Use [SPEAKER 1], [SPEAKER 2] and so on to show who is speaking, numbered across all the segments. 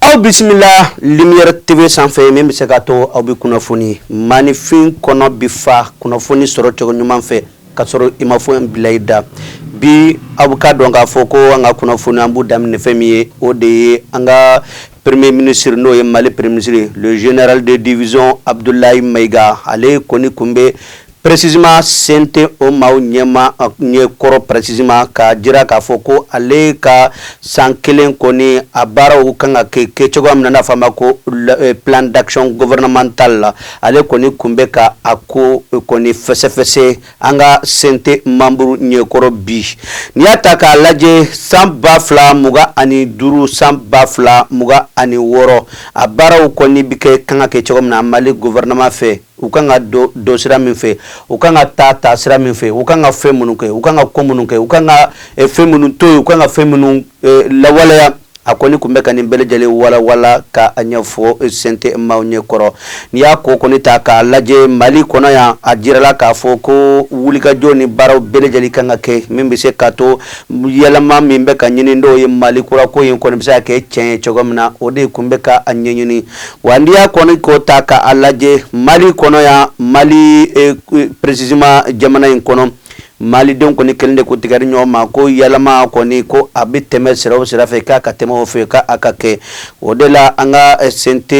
[SPEAKER 1] aw bisimila lumière tv sanfɛ min bɛ se ka to aw bɛ kunnafoni maanifin kɔnɔ bi fa kunnafoni sɔrɔ cogo ɲuman fɛ ka sɔrɔ i ma foyi bila i da bi aw bɛ ka dɔn k'a fɔ ko an ka kunnafoni an b'u daminɛ fɛn min ye o de ye an ka premier ministre n'o ye mali premier ministre le général de division Abudulayi Mayiga ale kɔni kun bɛ Précisément CNT o maa ɲɛma ɲɛ kɔrɔ précisément ka jira k'a fɔ ko ale ka san kelen kɔni a baaraw kan ka kɛ kɛ cogoya min na n'a fɔ a ma ko plan d'action gouvernemental la ale kɔni kun bɛ ka a ko kɔni fɛsɛfɛsɛ an ka CNT membre ɲɛkɔrɔ bi n'i y'a ta k'a lajɛ san ba fila mugan ani duuru san ba fila mugan ani wɔɔrɔ a baaraw kɔni bɛ kɛ kan ka kɛ cogo min na mali gouvernement fɛ u kan ka don sira min fɛ u kan ka taa taa sira min fɛ u kan ka fɛn minnu kɛ u kan ka ko minnu kɛ u kan ka eh, fɛn minnu to yen u kan ka fɛn minnu eh, lawaleya a kɔni kun bɛ ka nin bɛɛ lajɛlen walawala ka a ɲɛfɔ eh, CNT maaw ɲɛ kɔrɔ n'i y'a ko kɔni ta k'a lajɛ mali kɔnɔ yan a jirala k'a fɔ ko wulikajɔ ni baaraw bɛɛ lajɛlen kan ka kɛ min bɛ se ka to yɛlɛma min bɛ ka ɲini n'o ye mali kurako in kɔni bɛ se ka kɛ tiɲɛ ye cogo min na o de kun bɛ ka a ɲɛɲini Wa n'i y'a kɔni ko ta ka a lajɛ mali kɔnɔ yan mali précisément jamana in kɔnɔ malidenw kɔni kelen de k'u tɛgɛ di ɲɔgɔn ma ko yɛlɛma kɔni ko a bɛ tɛmɛ sira o sira fɛ k'a ka tɛmɛ o fɛ k'a ka kɛ o de la an ka CNT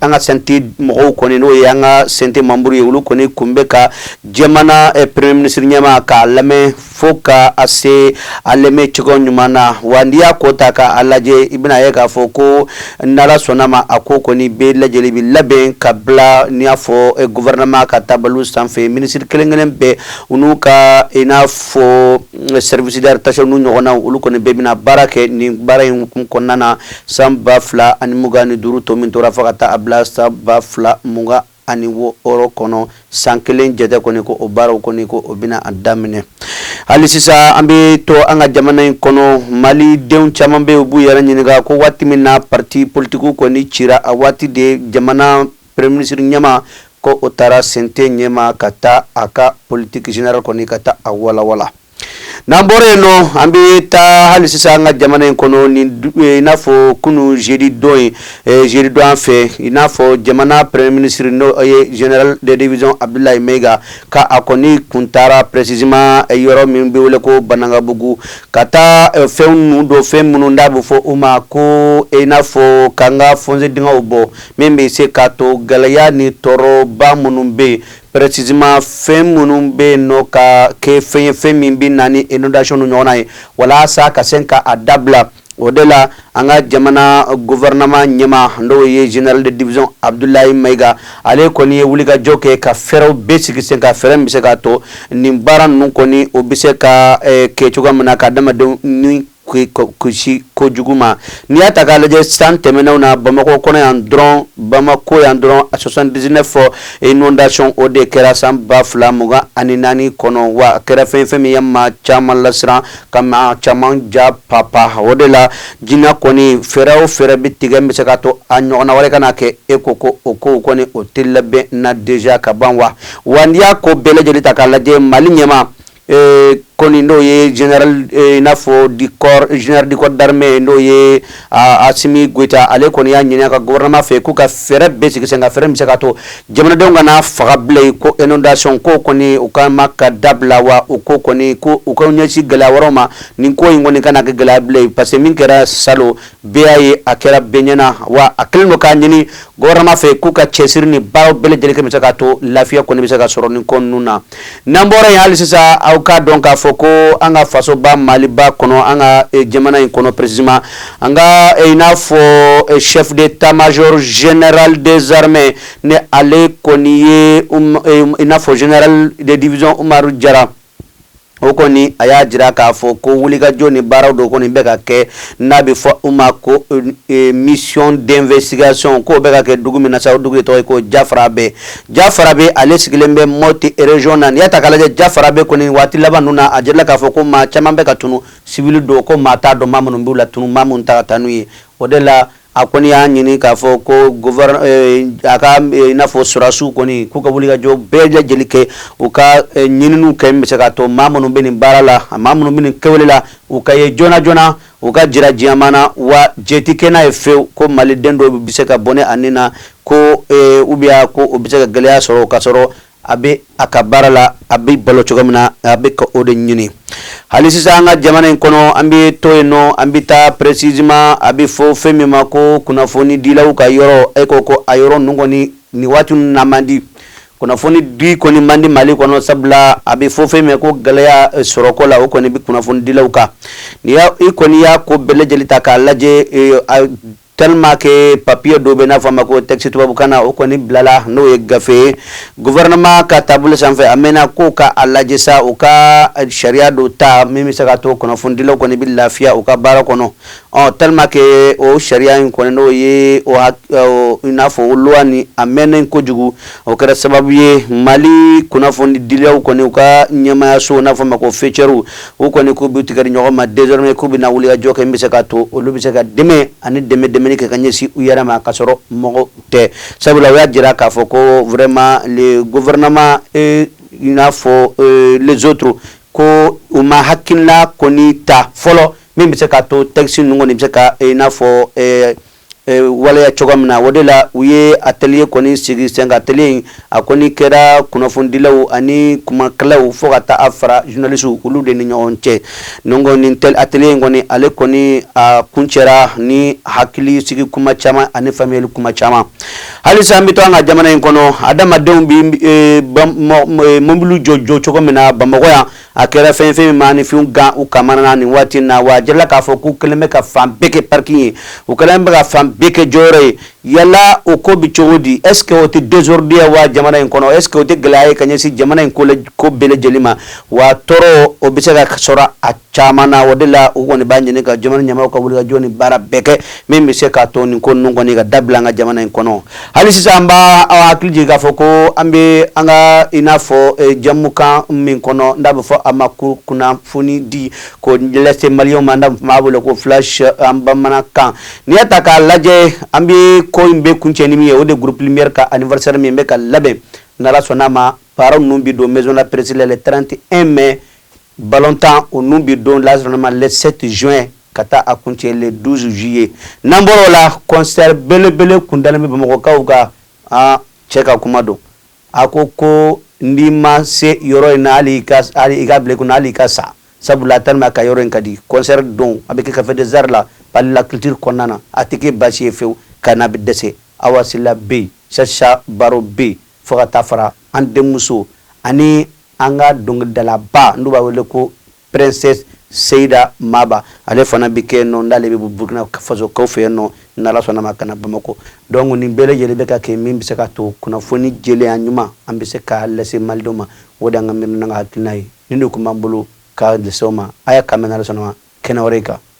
[SPEAKER 1] an ka CNT mɔgɔw kɔni n'o ye an ka CNT membre ye olu kɔni kun bɛ ka jamana premier ministre ɲɛma k'a lamɛn fo ka a se a lamɛn cogo ɲuman na wa n'i y'a ko ta ka a lajɛ i bɛna ye k'a fɔ ko n'ala sɔnna ma a ko kɔni bɛɛ lajɛlen bi labɛn ka bila n'i y'a fɔ eh, gouvernement ka tabaliw sanfɛ ministre kelen kelen bɛɛ u n'u ka i n'a fɔ eh, service rattaché n'u ɲɔgɔnnaw olu kɔni bɛɛ bɛna baara kɛ nin baara in hukumu kɔnɔna na san ba fila ani mugan ni duuru to min tora fo ka taa a bila san ba fila mugan ani wɔɔrɔ kɔnɔ san kelen jate kɔni ko o baaraw kɔni ko o bɛna a daminɛ hali sisan an bɛ to an ka jamana in kɔnɔ malidenw caman bɛ u b'u yɛrɛ ɲininka ko waati min na parti politikiw kɔni cira a waati de jamana premier ministre ɲɛma ko o taara CNT ɲɛma ka taa a ka politique générale kɔni ka taa a walawala N'an bɔra yen nɔ an bɛ taa hali sisan an ka jamana in kɔnɔ ni i n'a fɔ kunun jeudi don jeudi don an fɛ i n'a fɔ jamana premier ministre n'o ye général de division Abudulayi Mayiga ka a kɔni kun taara précisément yɔrɔ min bɛ wele ko Banankabugu ka taa fɛn ninnu don fɛn minnu n'a bɛ fɔ u ma ko i n'a fɔ ka an ka fossé dingɛw bɔ min bɛ se ka to gɛlɛya ni tɔɔrɔba minnu bɛ yen Précisément fɛn minnu bɛ yen nɔ ka kɛ fɛn ye fɛn min bɛ na ni inondation ninnu ɲɔgɔnna ye walasa ka se ka a dabila o de la an ka jamana gouvernement ɲɛmaa n'o ye general de division Abudulayi Mayiga ale kɔni ye wulikajɔ kɛ ka fɛɛrɛw bɛɛ sigi sen kan fɛɛrɛ min bɛ se k'a to nin baara ninnu kɔni o bɛ se ka kɛ cogoya min na ka adamadenw ni kojugu ma n'i y'a ta k'a lajɛ san tɛmɛnenw na bamakɔ kɔnɔ yan dɔrɔn bamakɔ yan dɔrɔn a soixante-dix-neuf inondation o de kɛra san ba fila mugan ani naani kɔnɔ wa a kɛra fɛn ye fɛn min ye maa caman lasiran ka maa caman ja papa o de la jinan kɔni fɛɛrɛ o fɛɛrɛ bɛ tigɛ bɛ se k'a to a ɲɔgɔn wɛrɛ kana kɛ e ko ko o ko kɔni o de labɛnna déjà ka ban wa n'i y'a ko bɛɛ lajɛlen ta k'a lajɛ mali ɲɛmaa Ee kɔni n'o ye i n'a fɔ général du corps d'armée n'o ye asimi goyita ale kɔni y'a ɲini a ka gouvernement fɛ k'u ka fɛɛrɛ bɛɛ sigi sen kan fɛɛrɛ bɛ se k'a to jamanadenw kana faga bilen ko inondation ko kɔni u ka ma ka dabila wa u ko kɔni ko u ka ɲɛsin gɛlɛya wɛrɛw ma nin ko in kɔni kana kɛ gɛlɛya bilen parce que min kɛra sa Bɛɛ y'a ye a kɛra bɛɛ ɲɛna wa a kɛlen don k'a ɲini gouvernement fɛ k'u ka cɛsiri nin baaraw bɛɛ lajɛlen kɛ bɛ se k'a to lafiya kɔni bɛ se ka sɔrɔ nin ko ninnu na n'an bɔra yen hali sisan aw k'a dɔn k'a fɔ ko an ka fasoba maliba kɔnɔ an ka eh, jamana in kɔnɔ précisément an ka eh, i n'a fɔ eh, chef d'état-major général des armées ni ale kɔni ye um, i n'a fɔ general de division umaru jara o kɔni a y'a jira k'a fɔ ko wulikajɔ ni baaraw dɔ kɔni bɛ ka kɛ n'a bɛ fɔ u ma ko euh, euh, mission d'investigation k'o bɛ ka kɛ dugu min na sa o dugu de tɔgɔ ye ko jafarabe jafarabe ale sigilen bɛ mɔti region na n'i y'a ta k'a lajɛ jafarabe kɔni waati laban ninnu na a jirala k'a fɔ ko maa caman bɛ ka tunu sibili don ko maa t'a dɔn maa minnu b'u latunu maa minnu ta ka taa n'u ye o de la A kɔni y'a ɲini k'a fɔ ko a ka i n'a fɔ sɔrɔdasiw kɔni k'u ka wulikajɔ bɛɛ lajɛlen kɛ u ka ɲininiw kɛ min bɛ se k'a to maa minnu bɛ nin baara la maa minnu bɛ nin kɛwale la u ka ye joona joona u ka jira diɲɛmaa na wa jɛn tɛ kɛ n'a ye fewu ko maliden dɔ bɛ se ka bɔnɛ a ni na ko ou bien ko o bɛ se ka gɛlɛya sɔrɔ k'a sɔrɔ a bɛ a ka baara la a bɛ balo cogo min na a bɛ ka o de ɲini hali sisan an ka jamana in kɔnɔ an bɛ to yen nɔ an bɛ taa précisément a bɛ fɔ fɛn min ma ko kunnafoni dilaw ka yɔrɔ e ko ko a yɔrɔ ninnu kɔni nin waati ninnu na man di kunnafoni di kɔni man di mali kɔnɔ sabula a bɛ fɔ fɛn min ko gɛlɛya e, sɔrɔko la o kɔni bɛ kunnafoni dilaw kan ni i kɔni y'a ko bɛɛ lajɛlen ta k'a lajɛ e, Tellement que papier dɔ bɛ n'a fɔ ma ko texte tubabubukan na o kɔni bilala n'o ye gafe gouvernement ka taabolo sanfɛ a mɛnna ko k'a lajɛ sa u ka sariya dɔ ta min bɛ se ka to kunnafonidilaw kɔni bɛ lafiya u ka baara kɔnɔ ɔ tellement que o sariya in kɔni n'o ye i n'a fɔ loi nin a mɛnnen kojugu o kɛra sababu ye Mali kunnafonidilaw kɔni u ka ɲɛmaayaso n'a fɔ ma ko faîtières u kɔni k'u b'u tigɛ di ɲɔgɔn ma désormais k'u bɛna wulikajɔ kɛ min bɛ se k'a to olu bɛ se ka dɛmɛ ani dɛmɛ dɛmɛni kɛ ka ɲɛsin u yɛrɛ ma ka sɔrɔ mɔgɔ tɛ sabula u y'a jira k'a fɔ ko vraiment le gouvernement et i n'a fɔ euh, les autres ko u ma hakilina kɔni ta fɔlɔ min bɛ se k'a to texte ninnu kɔni bɛ se ka i n'a fɔ euh, waleya cogoya min na o de la u ye atelier kɔni sigi senkan atelier in a kɔni kɛra kunnafonidilaw ani kumakɛlaw fo ka taa a fara journalistes olu de ni ɲɔgɔn cɛ donc nin atelier in kɔni ale kɔni a kuncɛra ni hakili sigi kuma caman ani faamuyali kuma caman halisa an bɛ to an ka jamana in kɔnɔ adamadenw bɛ mobiliw jɔ jɔ cogo min na Bamakɔ yan a kɛra fɛn fɛn min maaninfinw gan u kamana na nin waati na wa a jirala k'a fɔ k'u kɛlen bɛ ka fan bɛɛ kɛ parking ye u kɛlen bɛ ka fan bɛɛ kɛ jɔyɔrɔ ye yala o ko bi cogo di est ce que o tɛ désordre ye wa jamana in kɔnɔ est ce que o tɛ gɛlɛya ye ka ɲɛsin jamana in ko bɛɛ lajɛlen ma wa tɔɔrɔ o bɛ se ka sɔrɔ a caman na o de la u kɔni b'a ɲini ka jamana ɲɛmaaw ka wulikajɔ ni baara bɛɛ kɛ min bɛ se k'a to nin ko ninnu kɔni ka dabila an ka jamana in kɔnɔ Hali sisan an b'a an hakili jigin k'a fɔ ko an bɛ an ka i n'a fɔ eh, jɛmukan min kɔnɔ n'a bɛ fɔ a ma ko kunnafoni di ko lase maliyɛnw ma n'a b'a wele ko flash en bamanankan n'i y'a ta k'a lajɛ an bɛ ko in bɛ kuncɛ ni min ye o de ye groupe lumière ka anniversaire min bɛ ka labɛn n'ala sɔnn'a ma baara ninnu bɛ don maison la presse la le 31 mai balontan o ninnu bɛ don n'ala sɔnn'a ma le 7 juin ka taa a kuncɛ le 12 juillet n'an bɔr'o la concert belebele kun dalen bɛ Bamakɔkaw kan aa cɛ ka kuma don a ko ko n'i ma se yɔrɔ in na hali i ka hali i ka bila i kunna hali i ka sa sabula tellement que yɔrɔ in ka di concert don a bɛ kɛ Café des Arts la Palais de la Culture kɔnɔna na a tɛ kɛ baasi ye fewu ka n'a bɛ dɛsɛ Awa Sila bɛ yen Chacha Baro bɛ yen fo ka taa fara an denmuso ani an ka dɔnkilidalaba n'u b'a wele ko Princesse Seyida Maba ale fana bɛ kɛ yen nɔ n'ale bɛ bɔ Burkina Faso kaw fɛ yen nɔ n'Ala sɔnna ma ka na Bamakɔ donc nin bɛɛ lajɛlen bɛ ka kɛ min bɛ se ka to kunnafoni jɛlenya ɲuman an bɛ se k'a lase malidenw ma o de y'an ka miirina n'an ka hakilina ye nin de tun b'an bolo ka lase aw ma ayiwa k'an bɛn n'Ala sɔnna ma kɛnɛ wɛrɛ in kan.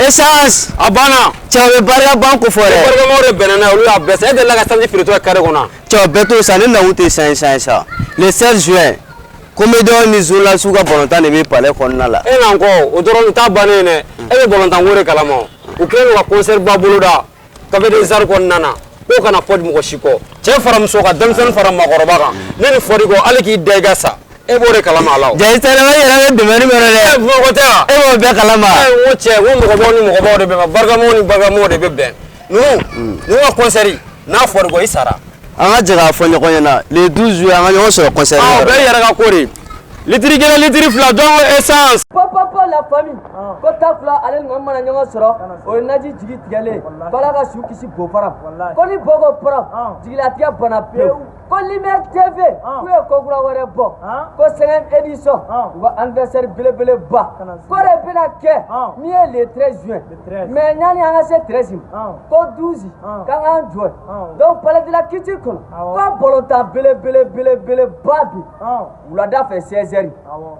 [SPEAKER 2] Essence a banna cɛba barika ban ko fɔ dɛ barikamɔgɔw de bɛnna n'a ye olu y'a bɛɛ san e delila ka sanji feere cogo carré kɔnɔ wa cɛw bɛɛ t'o san ne nakun tɛ san ye san ye sa le 16 juin comédiens ni journalistes ka balontan de bɛ palais kɔnɔna la e n'an kɔ o dɔrɔn o t'a bannen ye dɛ e bɛ balontanko de kalama o u kɛlen don ka concert ba boloda Café des Arts kɔnɔna na ko kana fɔ mɔgɔ si kɔ cɛ fara muso kan denmisɛnnin fara mɔgɔkɔrɔba kan ne ni fɔra i kɔ ala k'i da i ka sa e b'o de kalama e b'o kalama cɛ ni mɔgɔ ni mɔgɔ de bɛ bɛn n ka concert n'a fɔra i kɔ i sara an ka jɛ k'a fɔ ɲɔgɔn ɲɛna le 12 juin an ka ɲɔgɔn sɔrɔ concert bɛ yɛrɛ ko Litiri kelen litiri fila don essence po po po
[SPEAKER 3] la famille ko ta fila ale ni Mami mana ɲɔgɔn sɔrɔ o ye naji jigi tigɛlen ye ko Ala ka su kisi bɔgɔ fara ma ko ni bɔgɔ fara jigilatigɛ banna pewu ko Lumière TV k'u ye ko kura wɛrɛ bɔ ko cinquième édition u ka anniversaire belebeleba ko de bɛna kɛ min ye le 13 juin mais yanni an ka se 13 ma ko 12 k'an k'an jɔ yen donc Palais de la Culture kɔnɔ ko balontan belebele belebeleba bi wulada fɛ 16 heures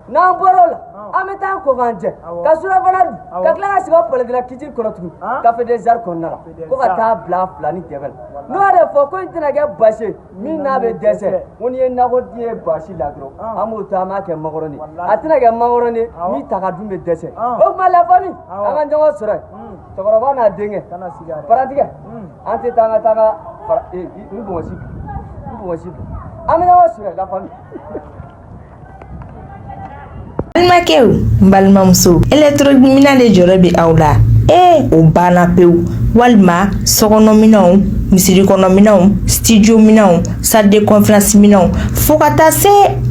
[SPEAKER 3] n'an bɔra o la an bɛ taa ko k'an jɛ ka surafana dun ka tila ka segin Palais de la Culture kɔnɔ tugun Café des Arts kɔnɔna la ko ka taa bila filanin dɛbɛ la n'o de fɔ ko in tɛna kɛ basi ye min na bɛ dɛsɛ ko n'i ye nako di ye basi la dɔrɔn an b'o to an b'a kɛ makɔrɔni a tɛna kɛ makɔrɔni min ta ka dun bɛ dɛsɛ o tuma la famille an ka ɲɔgɔn sɔrɔ yen cɛkɔrɔba n'a denkɛ paratigɛ an tɛ taa an ka taa n
[SPEAKER 4] ka n bɔnsi n bɔnsi an bɛ ɲɔgɔn sɔrɔ la famille balimakɛw balimamusow électro minɛn de jɔrɔ bɛ aw la ee o banna pewu walima sokɔnɔminɛnw misiri kɔnɔminɛnw studio minɛnw salle de conférence minɛnw fo ka taa se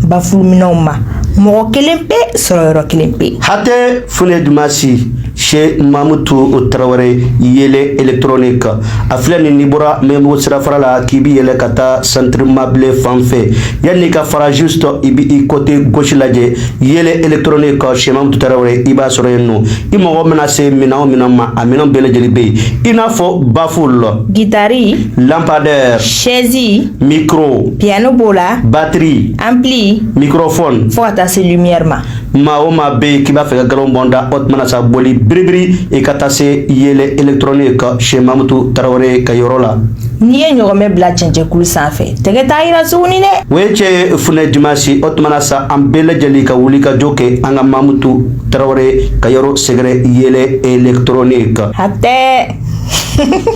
[SPEAKER 4] bafulu minɛnw ma mɔgɔ kelen pe sɔrɔ yɔrɔ kelen pe hatɛ funɛ
[SPEAKER 1] Dimansi chez Mamutu Tarawele Yɛlɛ électronique a filɛ nin n'i bɔra Maɲanbugu sirafara la k'i bɛ yɛlɛ ka taa Centre Mabilé fan fɛ yanni i ka fara juste i bɛ i côté gauche lajɛ yɛlɛ électronique chez Mamutu Tarawele i b'a sɔrɔ yen nɔ i mago mana se minɛn min ma a minɛn bɛɛ lajɛlen bɛ yen i n'a fɔ baffle
[SPEAKER 4] guitare
[SPEAKER 1] lampadaire chaise
[SPEAKER 4] micro
[SPEAKER 1] piano b'o la
[SPEAKER 4] batterie ampli microphone fo ka
[SPEAKER 1] taa se lumière
[SPEAKER 4] ma maa o maa
[SPEAKER 1] bɛ yen k'i b'a fɛ ka nkalon bɔ n da o tuma na sa boli biribiri i ka taa se yɛlɛ électronique chez mamutu tarawele ka yɔrɔ la. n'i ye ɲɔgɔmɛ
[SPEAKER 4] bila cɛncɛnkulu sanfɛ tɛgɛ t'a yira tuguni dɛ. o ye cɛn ye
[SPEAKER 1] funɛ dimansi o tuma na sa an bɛɛ lajɛlen ka wuli ka jɔ kɛ an ka mamutu tarawele ka yɔrɔ sɛgɛrɛ yɛlɛ
[SPEAKER 4] électronique.
[SPEAKER 1] hatɛ.